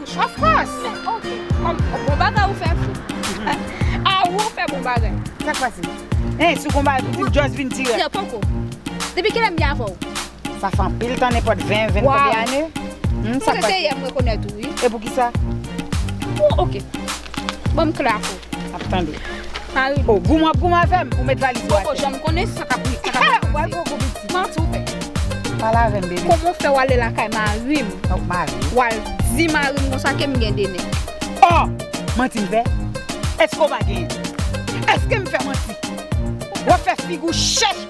Of course! Bon bagay ou fè fou. Ah ou an fè bon bagay. Sak pase? Hein sou konba a pouki m just vin tirè? Tirè poko. Depi kilè m gen avè w? Sa fè anpil tan nenpòt 20, 20 konbyen ane. Hum sak pase? Se yè m rekonèt ou wi. E poukisa? Bon ok. Banm kle ak ou. Ap tande. Marim. Oh, goum wap goum avèm pou met valiz ou atè. Poko janm konnen sa kap rive. Sa kap rive. Wal gwo gwo piti. Kman tou fè? Pale avèm baby. Koman ou fè wale lakay marim. Nòk marim. Wal di marim konsa kem gen 2 nèg. Oh! Manti m fè? Eske ou pa genyen? Eskem fè manti? Wap fè figou chèch.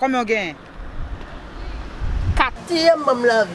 Konbyen w genyen? Katriyèm manm lanvi.